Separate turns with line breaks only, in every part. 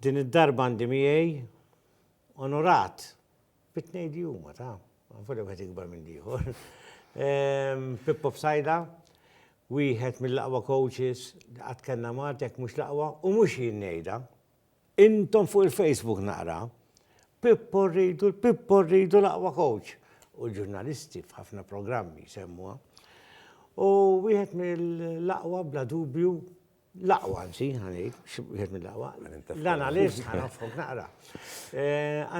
Din id-darba għandi miegħi onorat bi tnejn li huma ta', volja wieħed ikbar minn l-ieħor. Pippo Fsajda, wieħed mill-aqwa coaches li qatt kellna Malta jekk mhux l-aqwa u mhux jien ngħidha. Intom fuq il-Facebook naqra, Pippo rridu, Pippo rridu l-aqwa coach. U ġurnalisti f'ħafna programmi semmuha. U wieħed mill-aqwa bla dubju L-aqwa anzi, ħa ngħid, xi wieħed mill-aqwa. L-analist, ħa nafhok naqra.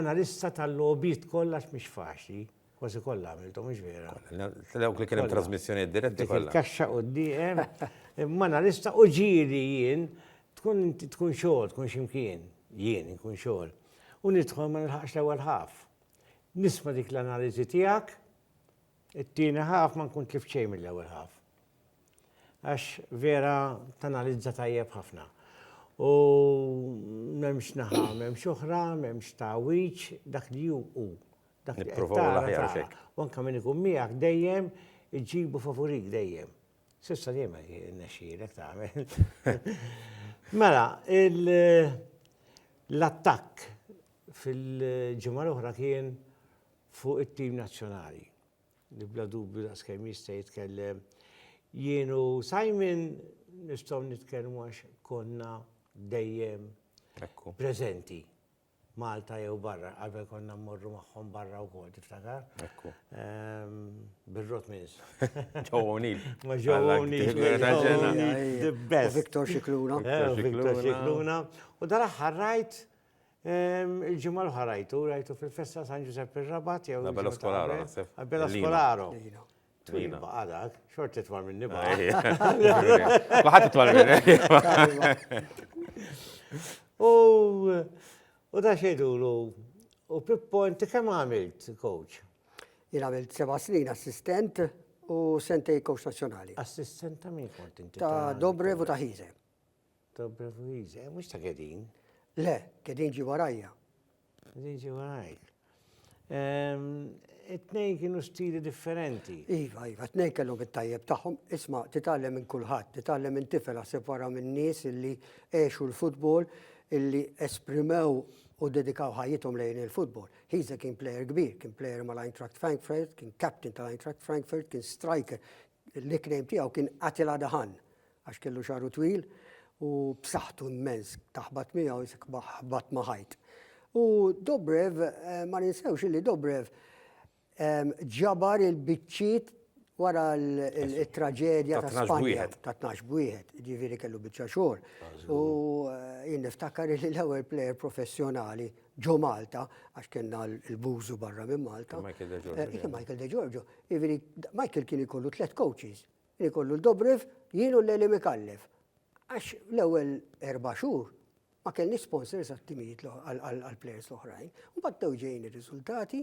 Analista tal-logħbiet kollha għax mhix faċli. Kważi kollha għamilthom, mhux vera? Dawk li kien
hemm trasmissjonijiet diretti kollha. Il-kaxxa quddiem,
imma analista u ġieli jien tkun inti tkun xogħol, tkun x'imkien, jien inkun xogħol. U nidħol ma nilħaqx l-ewwel ħaf. Nisma' dik l-analiżi tiegħek, It-tieni half ma nkun tlift xejn mill-ewwel half. Għax vera tanalizza tajjeb ħafna. U m'hemmx naħa, m'hemmx oħra, m'hemmx tagħwiġ, dak li hu hu. Dak li qed tara tara.
U anke min ikun miegħek
dejjem iġibu favurik dejjem. Sissa dejjem nexxielek tagħmel. Mela, l-attakk fil-ġimgħa l-oħra kien Fuq it-tim nazzjonali, li bla dubju daqskemm jista' jitkellem, jien u Simon nistgħu nitkellmu għax konna dejjem preżenti. Malta jew barra, qabel konna mmorru magħhom barra wkoll, tiftakar? Ekku. Birrot mins. Joe O'Neill.
Ma Joe
O'Neill. The best. Victor Xikluna.
Victor Xikluna.
U dal-aħħar rajt Il-ġimgħa l-oħra rajtu, rajtu fil-festa San Ġusepp ir-Rabat jew. Bella Skolaro, naħseb.
Bella Skolaro.
Twil baqa dak, xort titwal minn nibqa.
Baħat titwal minn. U
u da xejdulu, u Pippo, inti kemm għamilt coach? Jien għamilt
seba' snin assistent u sentej coach nazzjonali. Assistent ta' min
kont inti? Ta' Dobrev u ta'
Ħize. Ta'
Brevuiz, eh, mux ta' Gedin. Le,
Gedin ġi warajja. Gedin ġi
warajk. Ehm, it-nej kienu stili differenti. Iva, iva, t-nej
kellhom it-tajjeb tagħhom. Isma, titgħallem minn kulħadd, titgħallem minn tifel għasib wara minn nies illi għexu l-futbol, illi esprimew u dedikaw ħajjithom lejn il-futbol. Hiza kien player kbir, kien player mal-Eintracht Frankfurt, kien captain tal-Eintracht Frankfurt, kien striker. L-nickname tiegħu kien Attila Dahan. Għax kellu xagħru twil u b'saħħtu mmens taħbat miegħu isek ħbat ma' ħajt. U Dobrev, ma ninsewx illi Dobrev ġabar il-biċċiet wara l-traġedja ta' Spanja ta' tnax b'wieħed, ġifieri kellu biċċa xogħol. U jien niftakar li l-ewwel plejer professjonali ġo Malta, għax kellna l-bużu barra minn Malta. Michael De Giorgio. Michael De Giorgio. Jiġifieri Michael kien ikollu tliet coaches. li kollu l-Dobrev, jien u l-Għelim Ikallef. Għax l-ewwel erba' xhur ma kellni sponsors għat-timijiet għall-plejers l-oħrajn. U battew ġejn ir-riżultati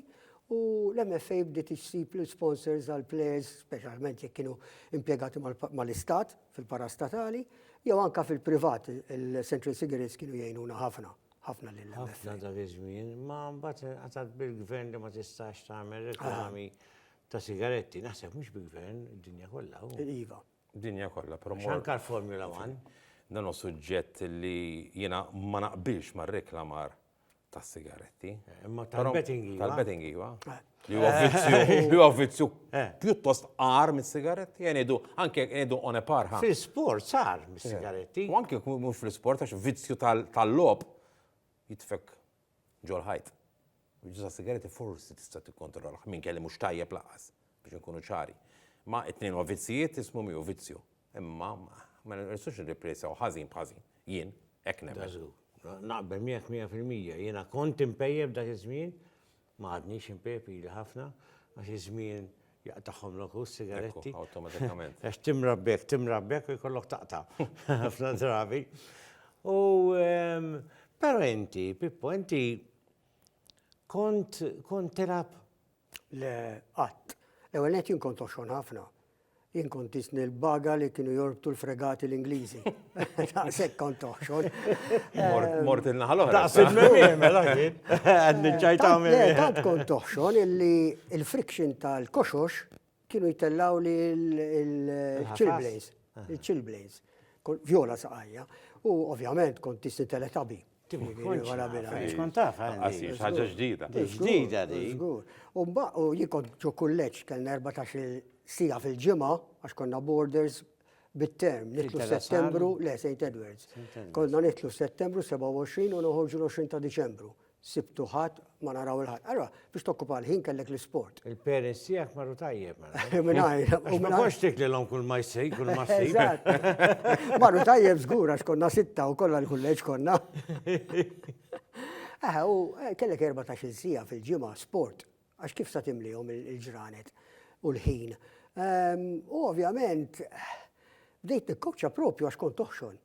u l-MFA bdiet issib l-sponsors għall-plejers, speċjalment jekk kienu impjegati mal-istat fil-parastatali, jew anka fil-privat, il-Central Cigarettes kienu jgħinuna ħafna ħafna lil Ħafna dak iż-żmien,
ma mbagħad inqatgħet bil-gvern li ma tistax tagħmel reklami ta' sigaretti, naħseb mhux bi gvern, id-dinja kollha. Iva.
Dinja kollha, però.
Anka l-Formula
1. Dan hu
suġġett li jiena ma naqbilx ma' reklamar ta' sigaretti. Eh, imma tal-betting
iva. Tal-betting iva. Eh.
Li huwa vizzju, vizzju eh. pjuttost qar mis-sigaretti, jenidu, anke jenidu on a par. Fil-sport sar
mis-sigaretti. U anke mhux
fil-sport għax vizzju tal-lob jitfek ġol-ħajt. L-użu tas-sigaretti forsi tista' tikkontrollh, min kelli mhux tajjeb lanqas, biex inkunu ċari. Ma it-tnejn huma vizzijiet, ismu miegħu vizzju. Imma ma nistgħux nirriplejsaw ħażin b'ħażin. Jien hekk nemmen. Naqbel miegħek
mija fil-mija. Jiena kont inpejjep dak iż-żmien, ma għadnix inpejjep ili ħafna, għax iż-żmien Jaqtagħhom lok hu s-sigaretti. Ekku, awtomatikament. Għax
timra b'hekk,
timra b'hekk u jkollok taqta' ħafna drabi. U ehm, però inti, Pippo, inti kont kont tilab le
qatt. Ewa qed jien kont oxxon ħafna. Jien kont isni l-baga li kienu jorbtu l-fregati l-Ingliżi. Daqsek kont toħxol. Mort
il-naħal oħra. Daqsek memiem, mela
jien. Għadni
ċajta memiem. Tant kont
toħxol
illi il-friction tal-koxox kienu jitellaw li il-chillblaze. Il-chillblaze. Vjola saqajja. U ovvjament kont tisti teletabi. ħaġa
ġdida. Ġdida di.
U mbaq,
u jikon ġo kulleċ, kellna 14 sija fil-ġimgħa għax konna borders bit-term, nitlu settembru, le, St. Edwards. Konna nitlu settembru 27 u noħorġu l-20 ta' Diċembru. Sibtu ħadd ma naraw il-ħadd. Allora, biex tokkupa l-ħin kellek l-isport. Il-parents tiegħek marru
tajjeb. Minajr. U
ma konx tik li l-om
kull ma jsej, kull ma jsej.
Marru tajjeb żgur għax konna sitta u kollha l-kulleġġ konna. Aha, u eh, kellek 14 sija fil-ġimgħa sport. Għax kif sa timlihom il-ġranet u l-ħin. Ehm, u ovvjament, bdejt nikkowċa propju għax kont toħxon.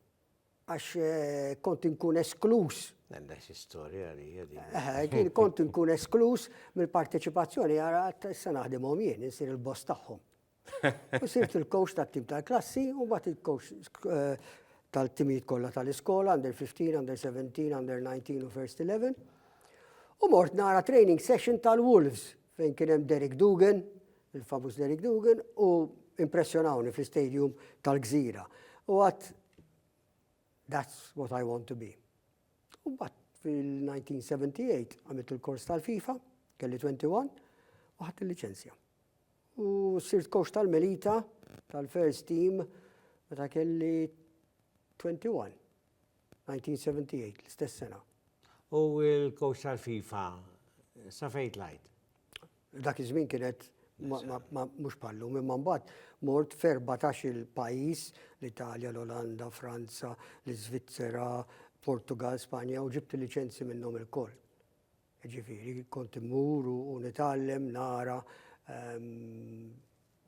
Għax eh, kont inkun esklus. Għandek xi storja
li jedi. Kont
inkun esklus mill-parteċipazzjoni għara issa naħdimhom jien, insir il-boss tagħhom. U sirt il-coach tat-tim tal-klassi u bat il-coach eh, tal-timijiet kollha tal-iskola, under 15, under 17, under 19 u first 11. U mort nara training session tal-Wolves fejn kien hemm Derek Dugan, il-famuż Derek Dugan, u impressjonawni fl-istadium tal-Gżira. U għat, that's what I want to be. U mbagħad fil-1978 għamilt il-kors tal-FIFA, kelli 21, u ħadt il-liċenzja. U sirt coach tal-Melita tal-first team meta kelli 21, 1978, l-istess sena. U
l-coach tal-FIFA, sa fejn tlajt? Dak
iż-żmien kienet mhux bħal lum, imma mbagħad mort f'erbatax il-pajjiż, l-Italja, l-Olanda, Franza, l-Iżvizzera, Portugal, Spanja u ġibt il-liċenzi minnhom ilkoll. Ġifieri, kont immur u nitgħallem, nara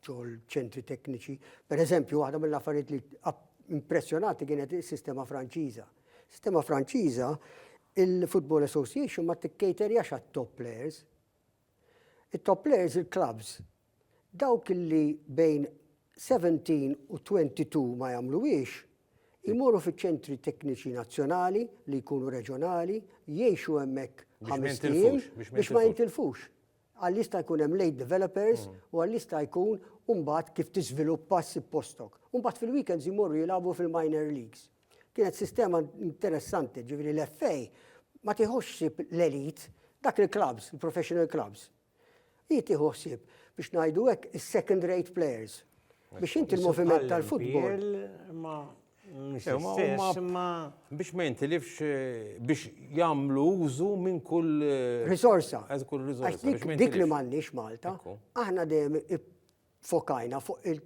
xogħol ċentri tekniċi. Per eżempju, waħda mill-affarijiet li impressjonati kienet is-sistema Franċiża. Sistema Franċiża, il-Football Association ma tikkejterjax għat-top players, It-top players il-klabbs, dawk li bejn 17 u 22 ma jagħmluhiex, imorru fiċ-ċentri tekniċi nazzjonali li jkunu reġjonali, jgħixu hemmhekk ħamest ijiem biex ma jintilfux. Għal jista' jkun hemm late developers u għal jista' jkun u mbagħad kif tiżviluppa ssib postok. U mbagħad fil-weekends imorru jilagħbu fil-minor leagues. Kienet sistema interessanti, ġifieri l-FA ma tieħux ħsieb l-elite, dak il-clubs, il-professional clubs. Hi tieħu ħsieb biex ngħidu hekk is-second rate players. Biex inti l-moviment tal-futbol.
Biex ma jintilifx eh, biex jagħmlu użu minn kull eh, risorsa.
Kull risorsa.
Dik li m'għandniex
Malta, aħna dejjem fokajna fuq il-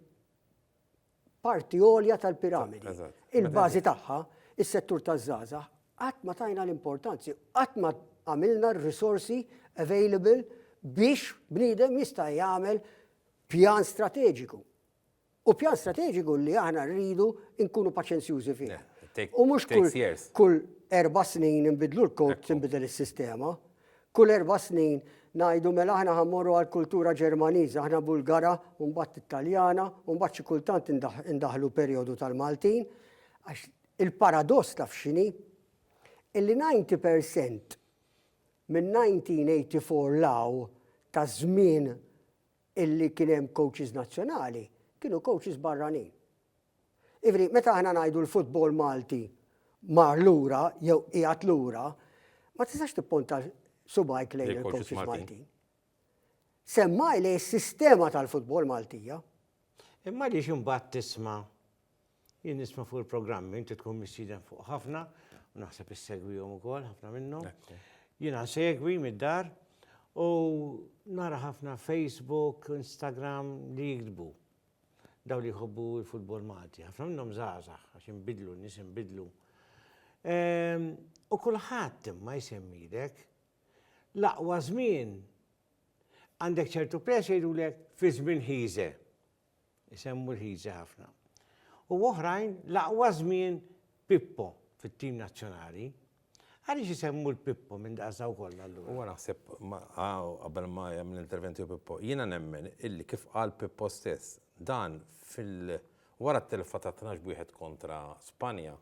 parti għolja tal-piramidi. Il-bażi tagħha, is-settur taż-żgħażagħ, qatt ma tajna l-importanzi, qatt ma għamilna r-risorsi available biex bniedem jista' jagħmel pjan strateġiku. U pjan strateġiku li aħna rridu nkunu paċenzjużi fih. U mhux kull erba' snin nbidlu l-kod tinbidel is-sistema. Kull erba' snin ngħidu mela aħna ħa mmorru għall-kultura Ġermaniża, aħna Bulgara u mbagħad Italjana u mbagħad xi kultant indaħħlu perjodu tal-Maltin għax il-paradoss taf x'inhi? Illi 90 per cent minn 1984 'l hawn ta' żmien illi kien hemm coaches nazzjonali kienu coaches barranin. Jiġifieri meta aħna ngħidu l-futbol Malti mar lura jew qiegħed lura, ma tistax tipponta subajk lejn il-coaches Maltin. Semmaj li s-sistema tal-futbol Maltija. Imma li
ximbat tisma, jien nisma fuq il-programmi, inti tkun missiden fuq ħafna, u naħseb is-segwijom u kol, ħafna minnhom. Jina segwi mid-dar u nara ħafna Facebook, Instagram li jikdbu. Dawk li jħobbu l-futbol Malti, ħafna minnhom żgħażagħ għax inbidlu, n-nies inbidlu. Ehm, u kulħadd imma jsemmilek l-aqwa żmien għandek ċertu press jgħidulek fi żmien ħiże. Isemmu l-ħiże ħafna. U oħrajn l-aqwa żmien Pippo fit-tim nazzjonali. Għaliex isemmu l-Pippo minn daqsa wkoll allura? Huwa naħseb ma
qabel ma jagħmel intervent jew Pippo, jiena nemmen illi kif qal Pippo stess, dan fil wara t-telfa ta' tnax b'wieħed kontra Spanja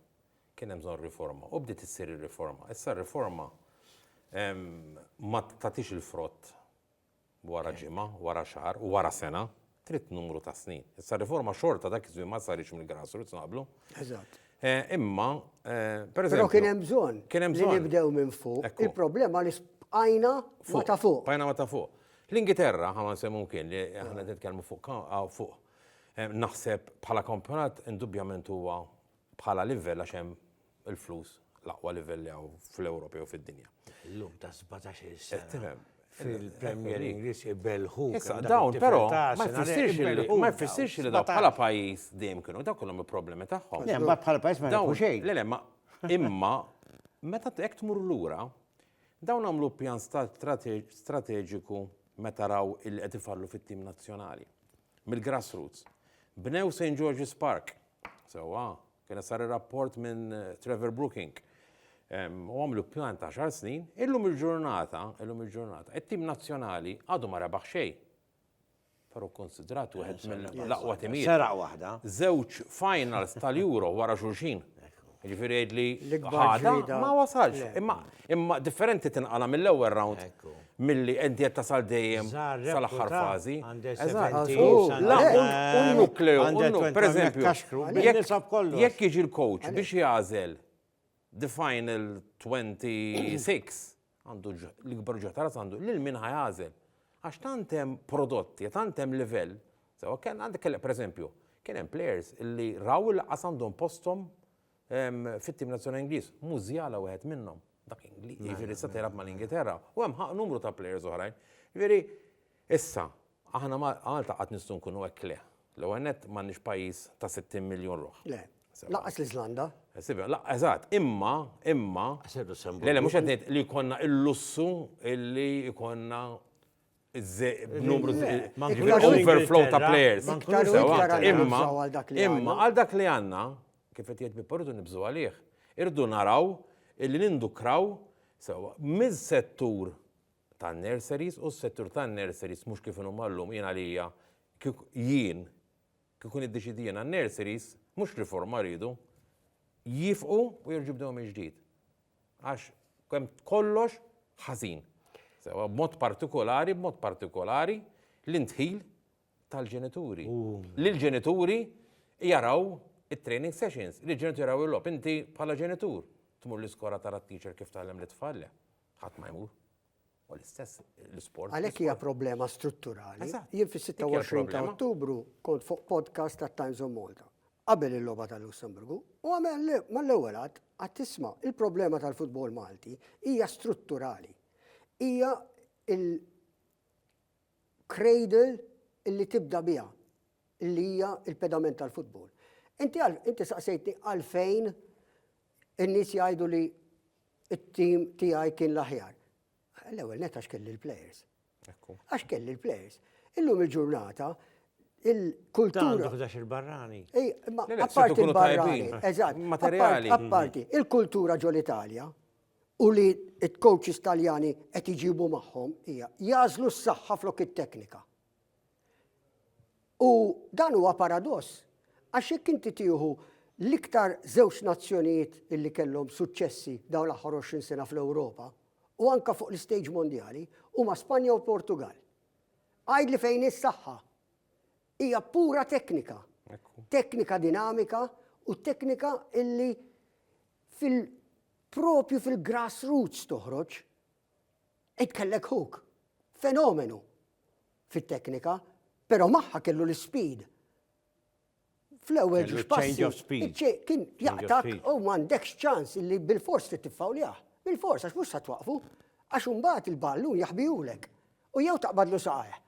kien hemm bżonn riforma u bdiet issir ir-riforma. Issa r-riforma ma tagħtix il-frott Wara ġimgħa, wara xahar, u wara sena, trid numru ta' snin. Issa r-riforma xorta dak iż-żmien ma saritx mill-grassroots naqblu. Eżatt.
Imma,
per eżempju. Però kien hemm bżonn. Kien hemm
bżonn. Li nibdew minn
fuq.
Il-problema li bqajna ma ta' fuq. Bqajna ma ta' fuq.
L-Ingilterra, ħa ma nsemmu mkien li aħna qed nitkellmu fuq fuq. Naħseb bħala kampjonat indubjament huwa bħala livell għax hemm il-flus l-aqwa livell li hawn fl-Ewropa jew fid-dinja. Illum ta' 17-il sena. Qed
tifhem.
Fil-Premier
Ingliż ibelħu. Issa dawn però
ma jfissirx li ma jfissirx li dawn bħala pajjiż dejjem kienu dawn kellhom il-problemi tagħhom. Le, ma bħala pajjiż ma
jfissirx xejn. Le, le, ma
imma meta hekk tmur lura dawn għamlu pjan strateġiku meta raw il qed ifallu fit-tim nazzjonali mill-grassroots. Bnew St. George's Park. Sewwa, Kien sar ir-rapport minn Trevor Brooking u għamlu pjan ta' xar snin, illum il-ġurnata, illum il-ġurnata, it-tim nazzjonali għadu ma rebaħ xej. Però konsidrat wieħed mill-aqwa timijiet. Sera waħda.
Żewġ finals
tal-Euro wara xulxin. Ġifieri jgħid li ħada ma
wasalx.
Imma differenti tinqala mill-ewwel round. Milli
inti qed
tasal dejjem sal-aħħar
fażi. Jekk jiġi l-coach
biex jagħżel the final 26 għandu l-ikbar ġuħ ta' ras għandu lil min ħa jagħżel. Għax tant hemm prodotti, tant hemm livell. Sewa kien għandek kellek pereżempju, kien hemm players li raw il-qas għandhom posthom Fit-tim nazzjonali Ingliż, Musiala wieħed minnhom, dak Ingliż, jiġifieri issa tilgħab mal-Ingilterra, u hemm numru ta' plejers oħrajn. Jiġifieri, issa, aħna Malta qatt nistgħu nkunu hekk le. L-ewwel nett m'għandniex pajjiż ta' 60 miljun ruħ. Le, lanqas
l-Iżlanda. Eżatt,
imma, imma, le le mhux qed ngħid li jkollna l-lussu li jkollna b'numru overflow ta' players. Imma imma għal dak li għandna, kif qed jgħid Pippo rridu nibżgħu għalih, irridu naraw illi nindukraw sewwa miż-settur tan-nurseries u s-settur tan-nurseries mhux kif inhuma llum jien għalija kieku jien kieku niddeċiedi jiena n-nurseries mhux riforma rridu, jifqu u jerġgħu jibdew mill-ġdid. Għax kemm kollox ħażin. Sewa b'mod partikolari, b'mod partikolari l-indħil tal-ġenituri. Li l-ġenituri jaraw it-training sessions, li l-ġenituri jaraw il-lob. Inti bħala ġenitur tmur l-iskola tara t-teacher kif tgħallem l-tfal le. Ħadd ma jmur. U l-istess l-isport. Għalhekk hija problema
strutturali. Jien fis-26 ta' Ottubru kont fuq podcast ta' Times of Malta qabel il-logħba tal-Lussemburgu u għamel li mal-ewwel għad għad tisma' il-problema tal-futbol Malti hija strutturali. Hija il-cradle li tibda biha li hija il-pedament tal-futbol. Inti saqsejtni għalfejn in-nies jgħidu li it-tim tiegħi kien l-aħjar. L-ewwel net għax kelli l-plejers. Għax kelli l-plejers. Illum il-ġurnata il-kultura. Għandu il-barrani.
Apparti
il-barrani. Eżatt. Materiali. Apparti
il-kultura
ġol Italja u li t-coaches taljani qed iġibu magħhom hija jażlu s-saħħa flok it-teknika. U dan huwa paradoss, għax jekk inti tieħu l-iktar żewġ nazzjonijiet illi kellhom suċċessi dawn l-aħħar 20 sena fl-Ewropa, u anke fuq l-istejġ mondjali, huma Spanja u l-Portugall. Għidli fejn hi s-saħħa? Hija pura teknika. Teknika dinamika u teknika illi fil-propju fil-grassroots toħroġ. Ed kellek Hook, fenomenu fit-teknika, però magħha kellu l-ispeed. Fl-ewwel ġiex
passi, kien jaqtak
u m'għandekx ċans li bil-fors trid tiffawljah. Bil-fors għax mhux sa twaqfu, għax imbagħad il-ballun jaħbihulek u jew taqbadlu saqajh.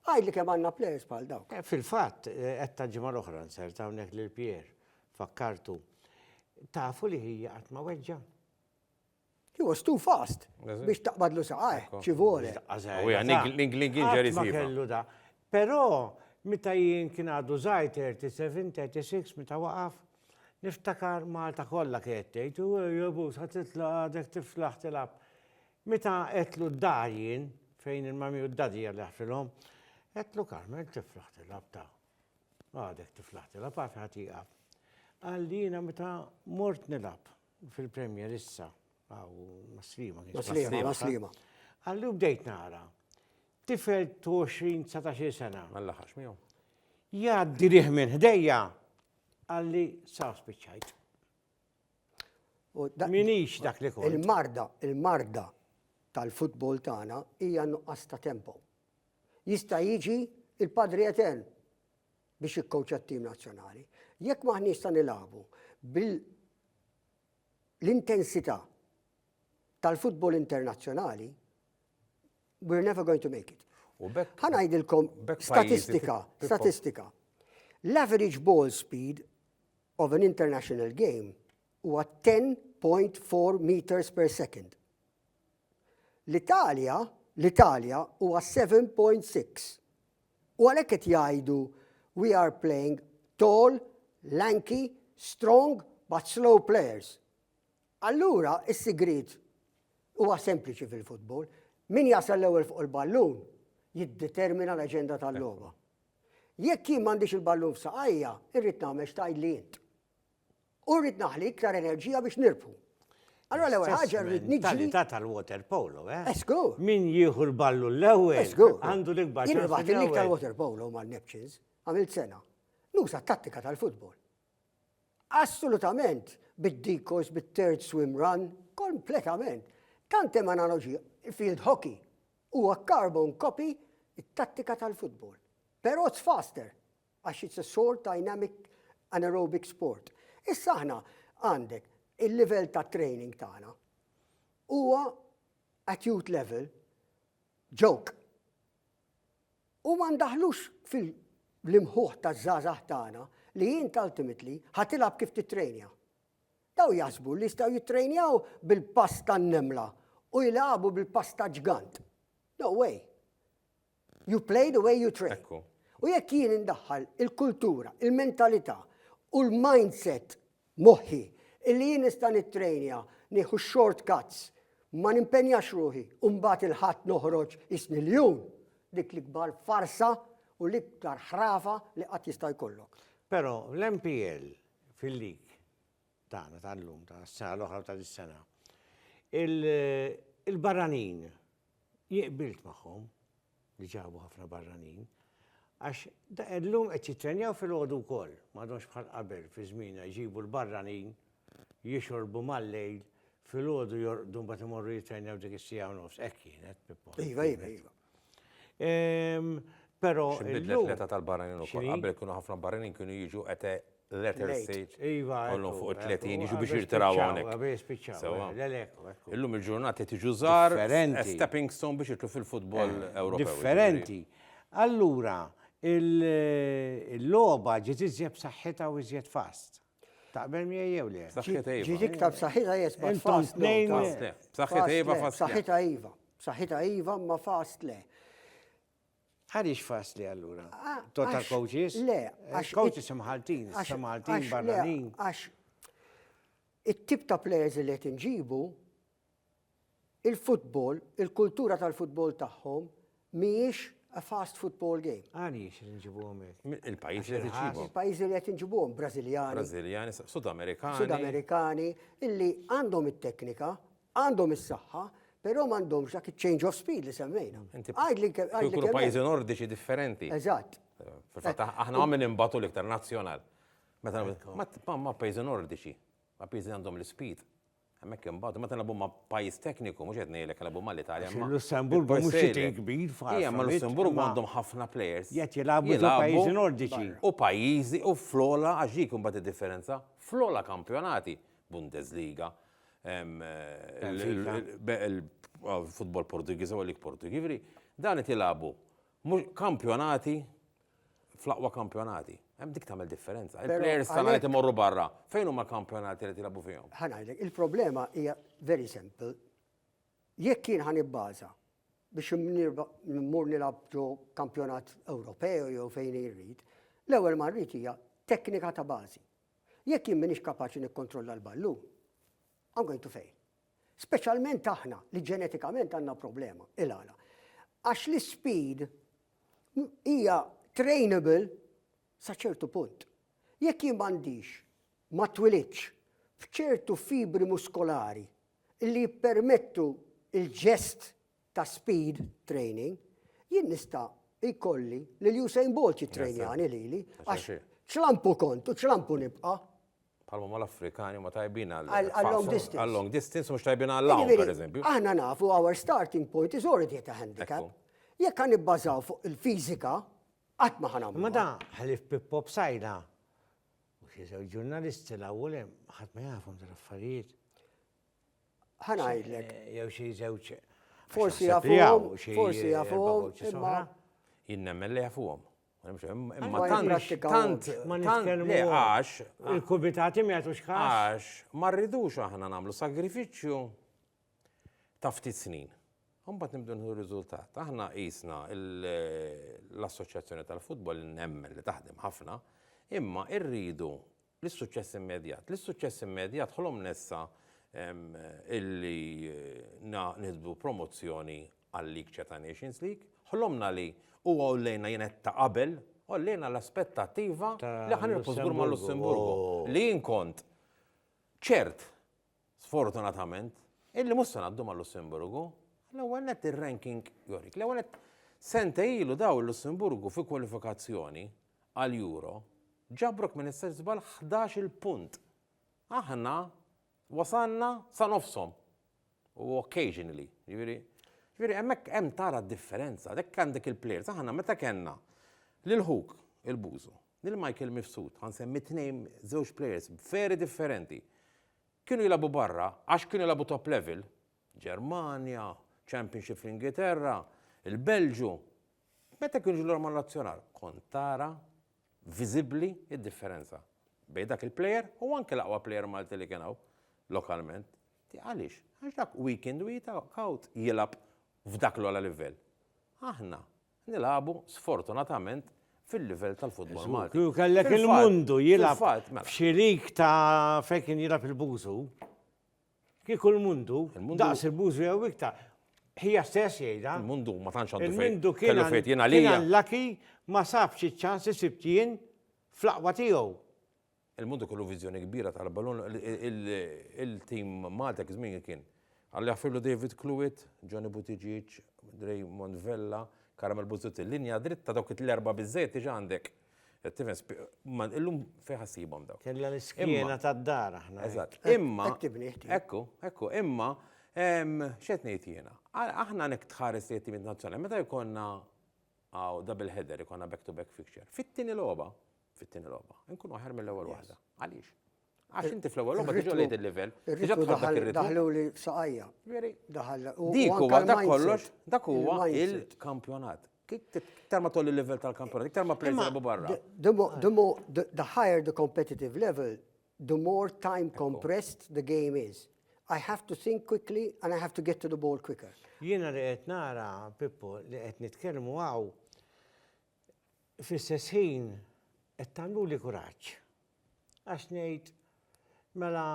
Għidli kemm għandna plejers bħal dawk. Fil-fatt, għedtha
l-ġimgħa l-oħra nsert hawnhekk lil Pierre, fakkartu. Tafu li hija qatt ma weġġa'.
He was too fast biex taqbadlu saqajh, ci vuole. L-Inglingin
Ma kellu da.
Però, meta jien kien għadu zaħir 37, 36, meta waqaf, niftakar Malta kollha kienet tgħid, u jobu, sa titla għadek tiflaħ tilab. Meta għetlu d-dar jien, fejn il-mami u d-dadi għalli ħfilhom, għetlu Carmel tiflaħ tilab ta' għadek tiflaħ tilab, għafi ħati għab. Għalli jina meta mort nilab, fil-Premier issa, għaw maslima. Maslima,
maslima. Għallu
bdejt nara, tifel 20-19 sena.
Għalla
ħax miegħu. Jaddi liħ minn ħdejja, għalli sa spiċċajt.
Minix dak li kont.
Il-marda, il-marda
tal-futbol tagħna hija nuqqas ta' tempo. Jista' jiġi il-Padri Etern biex jikkowċja t-tim nazzjonali. Jekk m'aħniex sa nilagħbu bil-intensità tal-futbol internazzjonali, we're never going to make it. Ħanajdilkom statistika, statistika. L-average ball speed of an international game huwa 10.4 meters per second. L-Italja, l-Italja huwa 7.6. U għalhekk qed jgħidu we are playing tall, lanky, strong but slow players. Allura s-sigriet huwa sempliċi fil-futbol, min jasal l-ewwel fuq il-ballun jiddetermina l-aġenda tal-logħba. Jekk jien m'għandix il-ballun f'saqajja, irrid nagħmel x'tgħidli int. U rrid naħli iktar enerġija biex nirbħu. Allora l-ewwel ħaġa rrid niġi. Talità tal-water
polo, eh? Esku. Eh, Min jieħu
l-ballu
l-ewwel? Esku. Eh, għandu l-ikbar.
Jien irbaħt
l-iktar water
polo
ma'
Neptures, għamilt sena. Nusa tattika tal-futbol. Assolutament, bid-dikos, bit-third swim run, kompletament. Tantem analogi, field hockey, huwa carbon copy it-tattika tal-futbol. Però it's faster, għax it's a sort dynamic anaerobic sport. Issa aħna għandek il-livell ta' training tagħna huwa at youth level joke. U ma ndaħlux fil-imħuħ ta' żgħażagħ tagħna li jint ultimately ħatilab kif titrejnja. Daw jasbu li jistgħu jitrejnjaw bil-pass tan-nemla u jilagħbu bil-pass ta' ġgant. No way. You play the way you train. Ekku. U jekk
jien
indaħħal il-kultura, il-mentalità u l-mindset moħħi illi jien nista' nittrejnja nieħu shortcuts ma nimpenjax ruħi u mbagħad il-ħadd noħroġ isni l-jum dik l-ikbar farsa u l-iktar ħrafa li qatt jista' jkollok. Però
l-MPL fil-lig tagħna tal-lum ta' s-sena l-oħra ta' dis-sena il-barranin Jien qbilt magħhom li ġabu ħafna barranin għax illum qed jittrenjaw filgħodu wkoll, m'għadhomx bħal qabel fi żmienna jġibu l-barranin, jixorbu mal-lejl, filgħodu jorqdu mbagħad imorru jittrenjaw dik is-siegħa u nofs. Hekk kienet, Pippo. Iva, iva, iva. Però. X'inbidlet l-età tal-barranin
ukoll? Qabel kienu ħafna barranin kienu jiġu qete letter stage. Iva. Kollhom fuq
il-30
jiġu biex jirtiraw hawnhekk. Illum
il-ġurnata tiġu
żgħar stepping
stone biex
jitlu fil-futbol eh, Ewropew. Differenti.
Allura, il-logħba ġiet iżjed b'saħħitha u iżjed fast. Taqbel mi jew le? B'saħħitha iva. Ġiet iktar
b'saħħitha
jes
ma
fast.
B'saħħitha
iva
fast. B'saħħitha iva.
B'saħħitha iva ma fast le.
Għaliex faċli allura? Total coaches? Le,
għax.
Coaches
imħaltin,
imħaltin barranin. Għax
it-tip ta' players li qed inġibu, il-futbol, il-kultura tal-futbol tagħhom mhijiex a fast football game. Għaliex li nġibuhom
Il-pajjiż li nġibuhom.
Il-pajjiż li qed inġibuhom
Brażiljani. Brażiljani,
Sudamerikani. Sudamerikani,
illi għandhom it-teknika, Għandhom is-saħħa, però m'għandhomx dak iċ-change of speed li semmejna. Għidli kemm. Jkunu
pajjiżi nordiċi differenti. Eżatt.
Fil-fatt aħna
ma' min imbatu l-iktar nazzjonal. Meta ma' pajjiżi nordiċi, ma' pajjiżi għandhom l-speed. Hemmhekk imbagħad meta nagħbu ma' pajjiż tekniku mhux qed ngħidlek nagħbu ma' l-Italja. Lussemburgu mhux
xi kbir f'ħafna. Hija ma' Lussemburgu għandhom
ħafna players. Qed jilagħbu ma'
pajjiżi nordiċi. U pajjiżi
u fl-ogħla għax dik imbagħad id-differenza. Fl-ogħla kampjonati, Bundesliga, il-futbol Portugiż u għalik Portugiż. Jiġifieri dan qed jilagħbu kampjonati fl-aqwa kampjonati. Hemm dik tagħmel differenza. Il-players tagħna qed imorru barra. Fejn huma kampjonati li tilgħabu fihom? Ħanajlek, il-problema
hija very simple. Jekk kien ħan ibbaża biex mmur nilgħab ġo kampjonat Ewropew jew fejn irrid, l-ewwel ma rrid hija teknika ta' bażi. Jekk jien m'iniex kapaċi nikkontrolla l-ballun, I'm going to fail. Speċjalment aħna li ġenetikament għandna problema. Il-għala. Għax l-speed hija trainable sa ċertu punt. Jekk jien m'għandix ma twilidx f'ċertu fibri muskolari li jippermettu il-ġest ta' speed training, jien nista' jkolli lil Usain Bolt jittrejnjani lili, għax ċlampu
kont u
ċlampu nibqa'. Palma ma
l-Afrikani ma tajbin għal-long distance.
Għal-long distance, mux tajbin
għal-long, per eżempju. Aħna nafu, our
starting point is already at a handicap. Jekk għan nibbażaw fuq il-fizika, għat maħna. Ma da, ħalif
Pippo b'sajda, u xieżaw ġurnalisti la' għulem, ħat ma jafum dal-affarijiet. Ħanajdlek.
Jew xi żewġ.
Forsi jafuhom,
forsi jafuhom. Jien nemmen li
jafuhom. Imma tant
ma nitkellmu
għax
il-kubitati ma
jagħtux każ. Għax ma
rridux aħna nagħmlu sagrifiċċju ta' ftit snin. Umbat nimdu nħu riżultat. Aħna jisna l-Assoċjazzjoni tal-Futbol nemmen li taħdem ħafna, imma irridu L-issuċċess immedjat. L-issuċċess immedjat ħolomna issa illi nieħdu promozzjoni għal-League Ceta Nations League. Ħlomna li u għollejna jien għedt ta' qabel, għollejna l-aspettattiva li ħa nilbsu żgur mal-Lussemburgu. Li jien kont ċert sfortunatament, illi mhux se ngħaddu mal-Lussemburgu, l-ewwel nett ir-ranking jorik. L-ewwel nett sentej ilu daw il-Lussemburgu fi kwalifikazzjoni għall-Euro ġabrok minn issa żball 11-il punt. Aħna wasalna sa nofshom u occasionally, jiġifieri Ġviri, emmek hemm tara differenza, dek għandek il-plejers, aħna meta kellna lil ħuk il-bużu, Lil Michael Mifsud, ħa nsemmi tnejn, żewġ players very differenti. Kienu jilagħbu barra għax kienu jilagħbu top level, Ġermanja, Championship fl-Ingilterra, il-Belġju. Meta kienu jiġu lura mal-Nazzjonal, kont tara viżibbli d-differenza bejn dak il-player u anke l-aqwa player Malti li kien hawn lokalment. Ti għaliex? Għax dak weekend u jita kaut jilab f'dak l-ola livell. Aħna nilagħbu sfortunatament fil-livell tal-futbol Malti. Kieku kellek il-mundu
jilgħab mela. f'xi lig
ta'
fejn kien jilgħab il-Bużu, kieku l-mundu daqs il-Bużu jew iktar, ħija stess jgħidha. Il-mundu ma tantx għandu
Il-mundu kien
għalija.
Laki ma
sabx iċ-ċans isibt jien fl-aqwa tiegħu. Il-Munt ikollu
viżjoni kbira tal-ballun, il-tim Malti dak iż-żmien kien Alli Afillu, David Clewit, Johnny Buttigieg, Raymond Vella, Caramel Busuttil. Linja dritta dawk it-tlerba biżżejjed diġà għandek. Tifhem? Ma illum fejn ħa ssibhom dawn. Kellna l-iskiena
tad-dar aħna. Eżatt. Imma. Qed
tibni ħti. Ekku, ekku, imma x'qed ngħid jiena? Aħna nek tħares li t-timiet nazzjonali meta jkollna double header, ikollna back to back fixture. Fit-tieni logħba, fit-tieni logħba. Inkun aħjar mill-ewwel waħda. Għaliex? Għax inti fl-ewwel logħba diġà lejt il-livell. Diġà tħobb dak ir-ritmu. Daħlu li saqajja.
Veri. Daħal.
Dik huwa dak kollox, dak huwa il-kampjonat. Iktar ma tolli il-livell tal-kampjonat, iktar ma plejs jilagħbu barra.
The higher the competitive level, the more time compressed the game is. I have to think quickly and I have to get to the ball quicker. Jiena li qed
nara, Pippo, li qed nitkellmu għaw, Fl-istess ħin qed tagħmluli kuraġġ. Għax ngħid, mela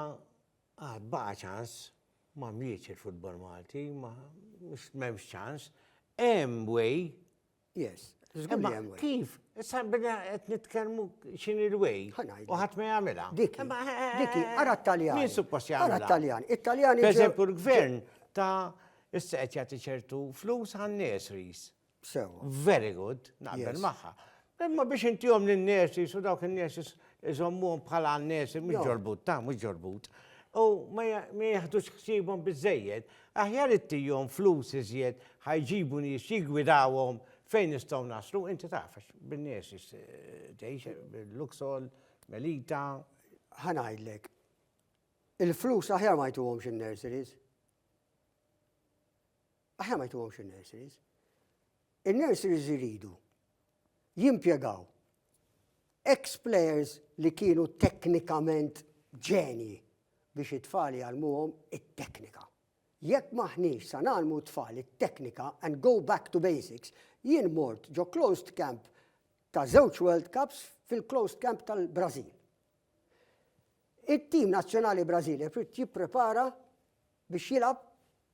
għad baqa' ċans, ma mietx il-futbol Malti, ma m'hemmx ċans, hemm way. Yes, żgur
li hemm way.
Kif? Issa bina qed nitkellmu x'inhi l-way. U ħadd ma jagħmilha. Dik. Dik
ara t-Taljan. Min suppost jagħmilha? Ara
t-Taljan. It-Taljan.
Pereżempju l-gvern
ta' issa qed jagħti ċertu flus għan-nies ris. Sewwa.
Very good,
naqbel magħha. Imma biex intihom lin-nurses u dawk in-nurses iżommuhom bħala nurses mhux ġorbut, ta' mhux ġorbut. U ma jaħdux ħsiebhom biżejjed, aħjar ittihom flus iżjed ħajġibu nies jiggwidawhom fejn nistgħu naslu, inti taf għax bin-nurses tgħix bil-Luxol, Melita. Ħa
ngħidlek. Il-flus aħjar ma jtuhomx in-nurseries. Aħna ma jtuhomx in-nurseries. In-nurseries iridu jimpjegaw ex-players li kienu teknikament ġenji biex it-tfal jgħallmuhom it-teknika. Jekk m'aħniex sa ngħallmu t-tfal it-teknika and go back to basics, jien mort ġo closed camp ta' żewġ World Cups fil-closed camp tal-Brażil. It-tim nazzjonali Brażili jrid jipprepara biex jilgħab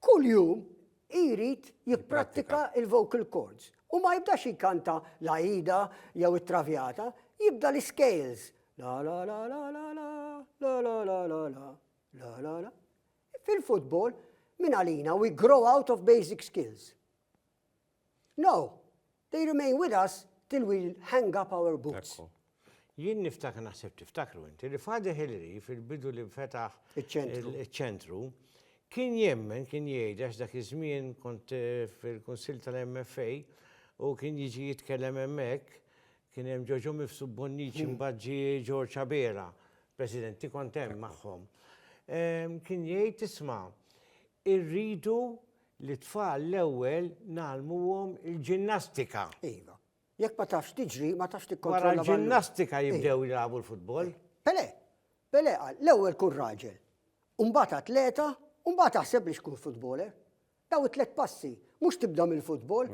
Kuljum hi jrid jipprattika l-vocal chords u ma jibdax jkanta l-Aida jew it-Traviata, jibda l-iscales, la la la la la la, la la la la la, la la la. Fil-futbol, min għalina we grow out of basic skills. No, They remain with us till we hang up our boots. Ekku. Jien
niftakar
naħseb tiftakru inti li Father Hilary fil-bidu li fetaħ Iċ-ċentru. iċ-ċentru kien jemmen kien jgħid għax dak iż-żmien kont eh, fil-Kunsill tal-MFA u kien jiġi jitkellem hemmhekk kien hemm ġoġo mifsu bonniċi mbagħad ġie Ġorġ Abera, Presidenti kont hemm magħhom. Em, Kien jgħid isma' irridu Lit-tfal l-ewwel ngħallmuhom il-ġinnastika. Iva.
Jekk ma tafx tiġri, ma tafx tikkontrolla. Wara l-ġinnastika jibdew
jilagħbu l-futbol. Pele,
Pele qal, l-ewwel kun raġel, u mbagħad atleta, u mbagħad aħseb biex tkun futboler. Daw it-tliet passi, mhux tibda mill-futbol.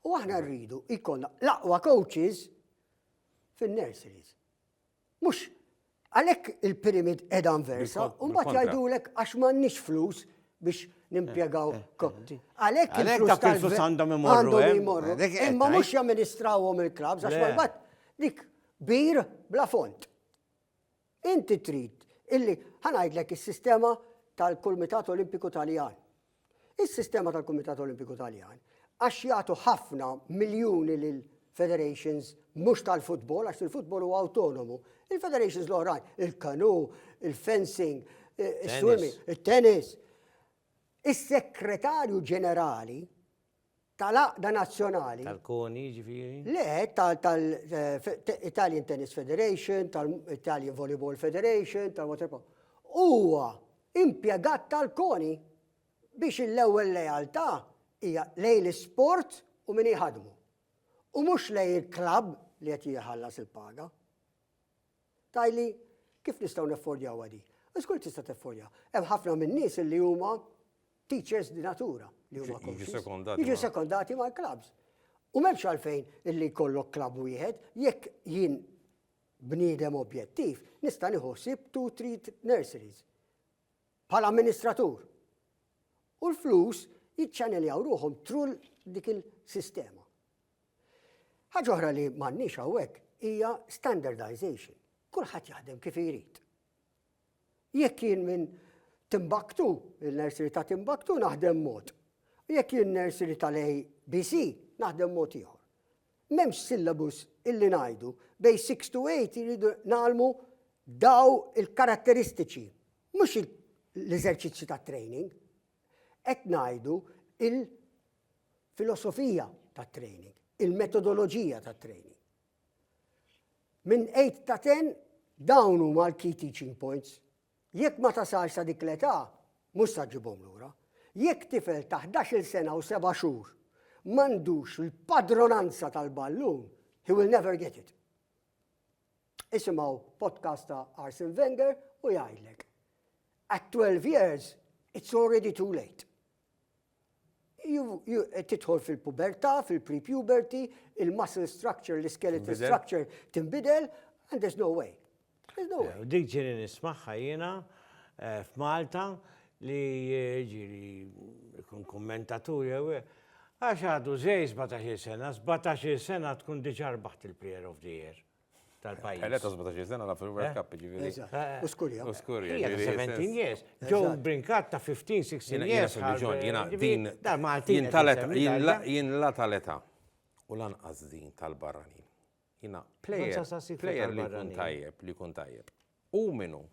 U aħna
rridu jkollna l-aqwa coaches fin-nurseries. Mhux għalhekk il-pyramid qiegħda inversa, u mbagħad jgħidulek għax m'għandniex flus biex nimpjegaw eh, eh, kotti. Eh. Għalhekk il-flus
għandhom imorru. Imma
mhux jamministrawhom il-klabs għax mbagħad dik bir bla font. Inti trid illi ħanajdlek is-sistema tal-Kumitat Olimpiku Taljan. Is-sistema tal-Kumitat Olimpiku Taljan, għax jagħtu ħafna miljuni lil federations mhux tal-futbol, għax il-futbol huwa awtonomu. Il-federations l-oħrajn, il-kanu, il-fencing, il-swimming, il-tennis. Is-sekretarju ġenerali tal-għaqda nazzjonali. Tal-koni, ġifiri?
Le,
tal-Italian eh, Tennis Federation, tal-Italian Volleyball Federation, tal-Waterpolo. Huwa impjegat tal-koni biex l-ewwel lealtà hija lejn l-isport u min jħadmu. U mhux lejn il-klabb li qed jħallas il-paga. Tgħidli, Kif nistgħu naffordjawha di? Żgur li tista' taffordja. Hemm ħafna min-nies li huma teachers di natura li huma coaches. Jiġu sekondati mal-klabbs. U m'hemmx għalfejn illi jkollok klabb wieħed, jekk jien bniedem objettiv, nista' nieħu ħsieb two three nurseries bħala amministratur. U l-flus jiċċaneljaw ruħhom through dik il-sistema. Ħaġa oħra li m'għandniex hawnhekk hija standardization. Kulħadd jaħdem kif irid. Jekk jien minn Timbaktu, il-nursery ta' Timbaktu naħdem mod. Jekk jien nursery tal-ABC naħdem mod ieħor. M'hemmx syllabus illi ngħidu bej 6 to 8 jridu nagħlmu daw il-karatteristiċi, mhux l-eżerċizzju ta' training. Qed ngħidu filosofija tat-training, il-metodoloġija tat-training. Minn 8 ta' 10 dawn huma l-key teaching points. Jekk ma tasalx sa dik l-età, mhux sa ġġibhom lura. Jekk tifel ta' 11-il sena u seba' xhur m'għandux l-padronanza tal-ballun, he will never get it. Isimgħu podcast ta' Arsene Wenger u jgħidlek. At 12 years, it's already too late. tidħol fil-pubertà, fil-pre-puberty, il-muscle structure, l-skeletal structure tinbidel, and there's no way. There's no way. Dik
ġiri nismaħħa jiena eh, f'Malta li eh, ġiri kun kommentatur jew eh, għax għadu zej 17 sena, 17 sena tkun diġarbaħt il-Player of the Year. tal-pajjiż. Għaletta 17 sena
la fil-World Cup, ġiviri. U skurja. U
skurja.
17 years.
Joe Brinkat ta' 15, 16 years. Jena din. Dar Malti. Jien
tal-eta. Jien la tal-eta. U lanqas din tal-barrani. Jena player. Player li kun tajjeb, li kun tajjeb. U minu.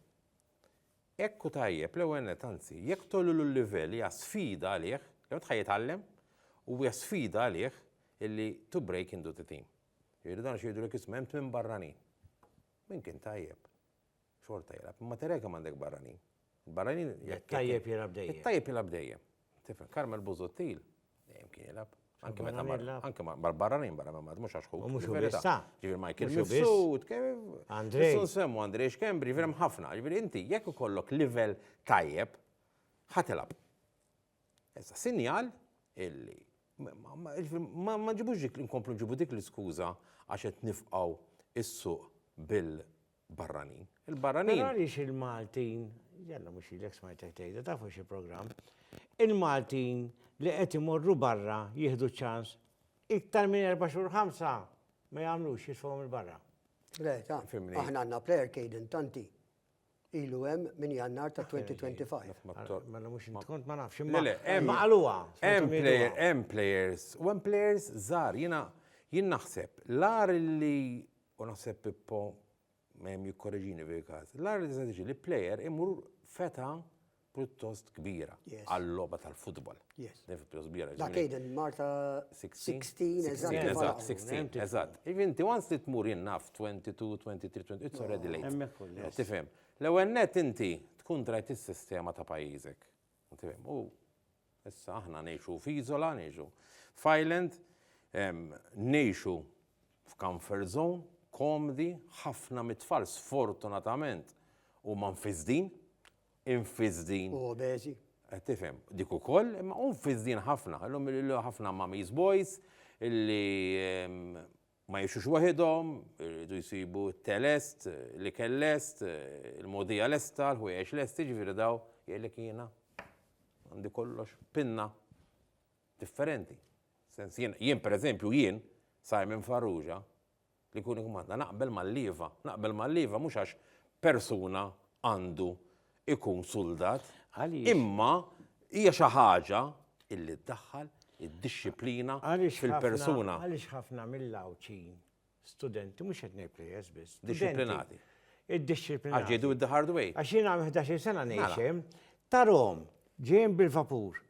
Ekku tajjeb, l ewwel tanzi, jekk tollu l-livell, ja sfida għalih, jew tħajjitgħallem, u ja sfida għalih illi to break into the team. Jiġifieri dan xi jgħidulek isma' hemm tmien barranin. Min kien tajjeb xorta jilgħab, imma therè kemm għandek barranin. Il-barranin jekk. Tajjeb jilgħab
dejjem. It-tajjeb jilgħab dejjem.
Tifhem, Karmel Busuttil dejjem kien jilgħab. Anke meta mar. Anke mar barranin barra minn Malta mhux għax hu. Mhux verità. Ġifieri
Michael
Mifsud, Andrej. Sun semmu Andrej Xkembri, ġifieri hemm ħafna. Ġifieri inti jekk ikollok livell tajjeb, ħa tilgħab. Issa, sinjal illi ma nġibux dik inkomplu nġibu dik l-iskuża għax qed nifqgħu s-suq bil-barranin. Il-barranin. Però għaliex
il-Maltin, jalla mhux ilek smajtek tgħidha tafu xi programm, il-Maltin li qed imorru barra jieħdu ċans iktar minn erba' xhur ħamsa ma jagħmlux jitfgħuhom il-barra. Le, ta'
aħna għandna player
kejden
tanti. Ilu hemm minn Jannar ta' 2025. Mela mhux int
kont ma nafx imma. Le le, hemm. Imma qaluha.
Hemm
players, hemm
players, u hemm players żgħar. Jiena jien naħseb l-agħar li, u naħseb Pippo jikkoreġini f'dil-każ, l-agħar li tista' tiġi li player imur f'età pjuttost kbira għal-logħba
tal-futbol.
Differenza pjuttost kbira.
Dak jgħid
li Marta 16
eżatt. Eżatt, 16,
eżatt.
Jiġifieri
inti once li tmur jien naf 22, 23, 20, it's already late. Hemmhekk hu l-logħba. Tifhem.
L-ewwel nett
inti tkun drajt is-sistema ta' pajjiżek. Tifhem. U issa aħna ngħixu f'iżola, ngħixu f'island, ngħixu f'comfort zone, komdi, ħafna mit-tfal sfortunatament huma mfiżdin. Infizdin. U obeżi.
Eh, tifhem, dik
ukoll, imma hu mfizdin ħafna, illum ħafna mamis boys illi ehm, ma jixux waħidhom, irridu jsibu t-telest, li kellest, il-modija lesta, l-ħwejjeġ lesti, ġifieri daw jgħidlek jiena għandi kollox pinna differenti. Sens jien, jien pereżempju jien, Simon Farrugia, li jkun ikkmanda. Naqbel mal-lieva. Naqbel mal-lieva mhux għax persuna għandu ikun suldat. Imma hija xi ħaġa illi ddaħħal id-dixxiplina fil-persuna. Għaliex ħafna
mill-Għawdxin, studenti, mhux qed ngħid plejers biss. Dixxiplinati.
Id-dixxiplinati.
Għax ġiedu id-the hard
way. Għax jiena 11 sena
ngħix hemm, tarhom ġejjin bil-vapur.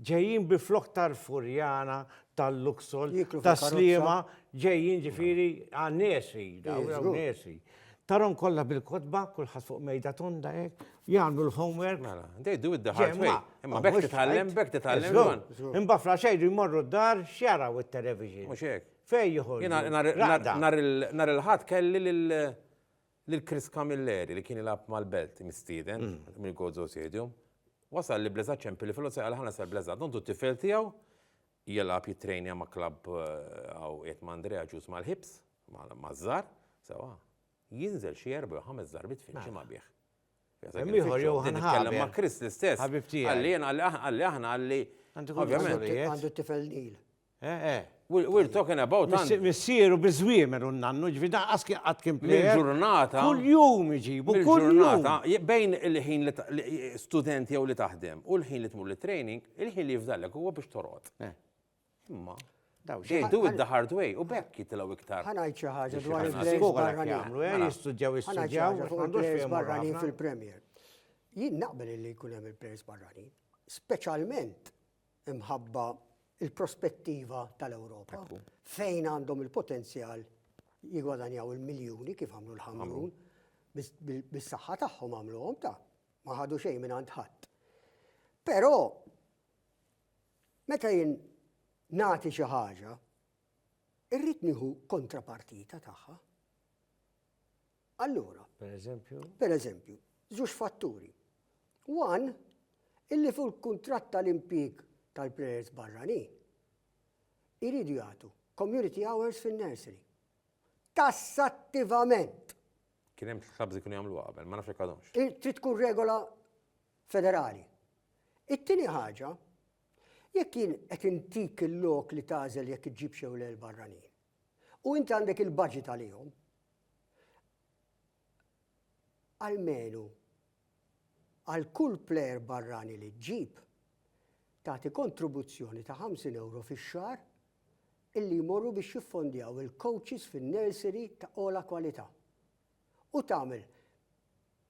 Ġejjin bi flokk tal-furjana, tal-luxol, tas-sliema, ġejjin ġifieri għan-nies hi, hawn niesi.
Tarhom
kollha bil-kotba, kulħadd fuq mejda tonda hekk, jagħmlu l-homework. Mela, they do it the
hard way. Imma bekk titgħallem, bekk titgħallem. Imbagħad fl għaxejn
jmorru d-dar x'jaraw it-television. Mhux hekk. Fejn
joħorġu. Nhar il-Ħadd kelli lil Lil Chris Camilleri li kien jilgħab mal-Belt mistieden mill-Gozo Stadium, wasal li Bleza Ċempili filgħodu sejħa lil Hannes El Bleza, dontu t-tifel tiegħu, jilgħab jittrejnja ma' klabb hawn qiegħed ma' Andrea ġuż mal-Hibs, maż-Żgħar, sewwa, jinżel xi erba' jew ħames darbiet fil-ġimgħa bih. Hemm ieħor
Johan Haber. Ma' Chris l-istess.
Ħabib tiegħi. Qalli jien,
qalli aħna,
qalli. Ovvjament. Għandu t-tifel
Neil. Eh, eh,
we're talking about għandi. Missieru
biżwiemer u nannu, ġifi da qaski qatt kien plejer. Ġurnata. Kull
jum iġibu,
kull ġurnata. Bejn
il-ħin li studenti jew li taħdem u l-ħin li tmur li training, il-ħin li jifdallek huwa biex torot. Eh. Imma. They do it the hard way u bekk jitilaw iktar. Ħanajt xi ħaġa dwar
il-players barranin. Jagħmlu
eh,
mela.
jistudjaw jistudjaw.
Għandux
barranin fil-Premier.
Jien naqbel li jkun hemm il-players barranin, speċjalment imħabba il-prospettiva tal-Ewropa fejn għandhom il-potenzjal jigwadanjaw il-miljuni kif għamlu l-ħamrun bis-saħħa tagħhom għamluhom ta' ma ħadu xejn minn għand ħadd. Però meta jien nagħti xi ħaġa, irrid nieħu kontrapartita tagħha. Allura, per eżempju, żewġ fatturi. One, illi fuq il-kuntratt tal-impjieg tal-plejers barranin, iridu jagħtu community hours fin-nursery. Tassattivament! Kien hemm clubs
li kienu jagħmluha qabel, ma nafx jekk għadhomx. Trid tkun regola
federali. It-tieni ħaġa, jekk jien qed intik il-lok li tagħżel jekk iġġibx jew le l-barranin, U inti għandek il-budget għalihom. Almenu għal kull plejer barrani li ġġib tagħti kontribuzzjoni ta' 50 euro fix-xahar illi jmorru biex jiffondjaw il-coaches fin-nursery ta' ola kwalità. U tagħmel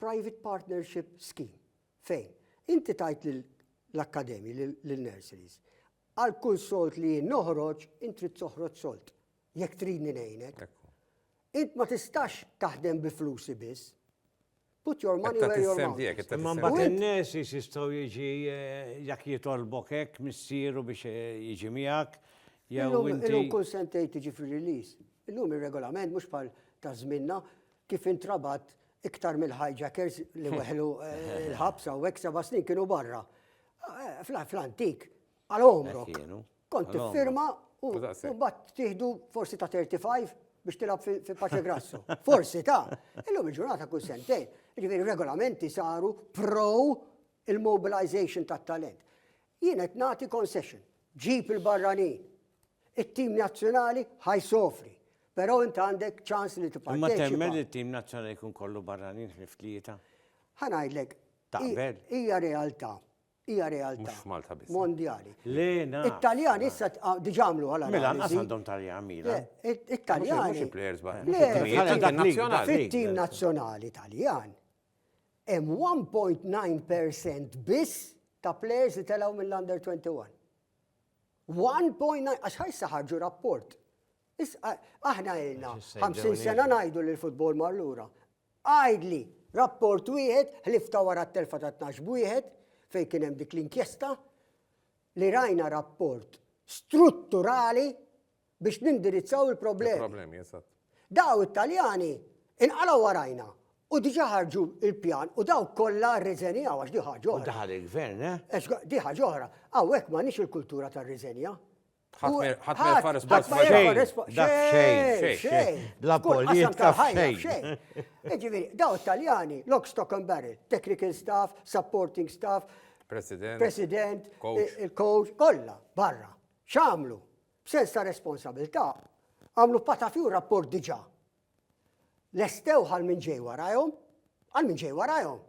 private partnership scheme fejn inti tajt l-akkademi, l-nurseries, Għal kull sold li jien noħroġ, int trid toħroġ sold, jekk tridni ngħinek. Int ma tistax taħdem bi flusi biss. Put your money where your mouth is. Imma mbagħad in-nies
jistgħu jiġi eh, jak jitolbok hekk missieru biex eh, jiġi miegħek. Illum kull sentej tiġi
fir-release. Illum ir-regolament mhux bħal ta' żminna kif intrabat iktar mill-hijackers li weħlu l-ħabsa u hekk seba' snin kienu barra. Fl-antik, għal omrok. Kont tifirma u bat tieħdu forsi ta' 35 biex tilab fi paċe grassu. Forsi ta' illum il-ġurnata kull sentej. Ġifieri regolamenti saru pro il-mobilization tat-talent. Jien qed nagħti concession. Ġib il-barranin. it-tim nazzjonali ħa jsofri. Però inti għandek ċans li tipparteċipa. Imma temmen li t-tim
nazzjonali jkun
kollu
barranin ħlif tlieta? Ħa ngħidlek.
Taqbel?
Hija realtà.
Hija realtà. Mhux Malta biss. Mondjali.
Lena.
It-Taljan
issa
diġà għamlu għal Mela nqas għandhom Taljan
Milan. It-Taljan.
Mhux
players
barra.
Fit-tim
nazzjonali
Taljan hemm 1.9% biss ta' players li telgħu mill-under 21. 1.9 għax ħajsa ħarġu rapport. Aħna għilna 50 sena ngħidu li l-futbol mar lura. Għajdli, rapport wieħed, ħlifta wara t-telfa ta' 12 b'wieħed, fejn kien hemm dik l-inkjesta, li rajna rapport strutturali biex nindirizzaw il-problemi. Il-problemi, eżatt.
Daw it-Taljani
inqalgħu warajna u diġà ħarġu il-pjan u daw kollha rriżenjaw għax di ħaġa oħra. Daħal il-gvern,
eh? Di ħaġa oħra.
Hawnhekk m'għandniex il-kultura tar-riżenja. Ħadd
ma jfares pass ma xejn. Xejn. Bla
politika
xejn. Ġifieri,
daw it-Taljani, lock stock and barrel, technical staff, supporting staff, President, President, il-coach, kollha barra. X'għamlu? B'sens ta' responsabilità, għamlu patafju rapport diġà. Lestewh għal min ġej warajhom, għal min ġej warajhom,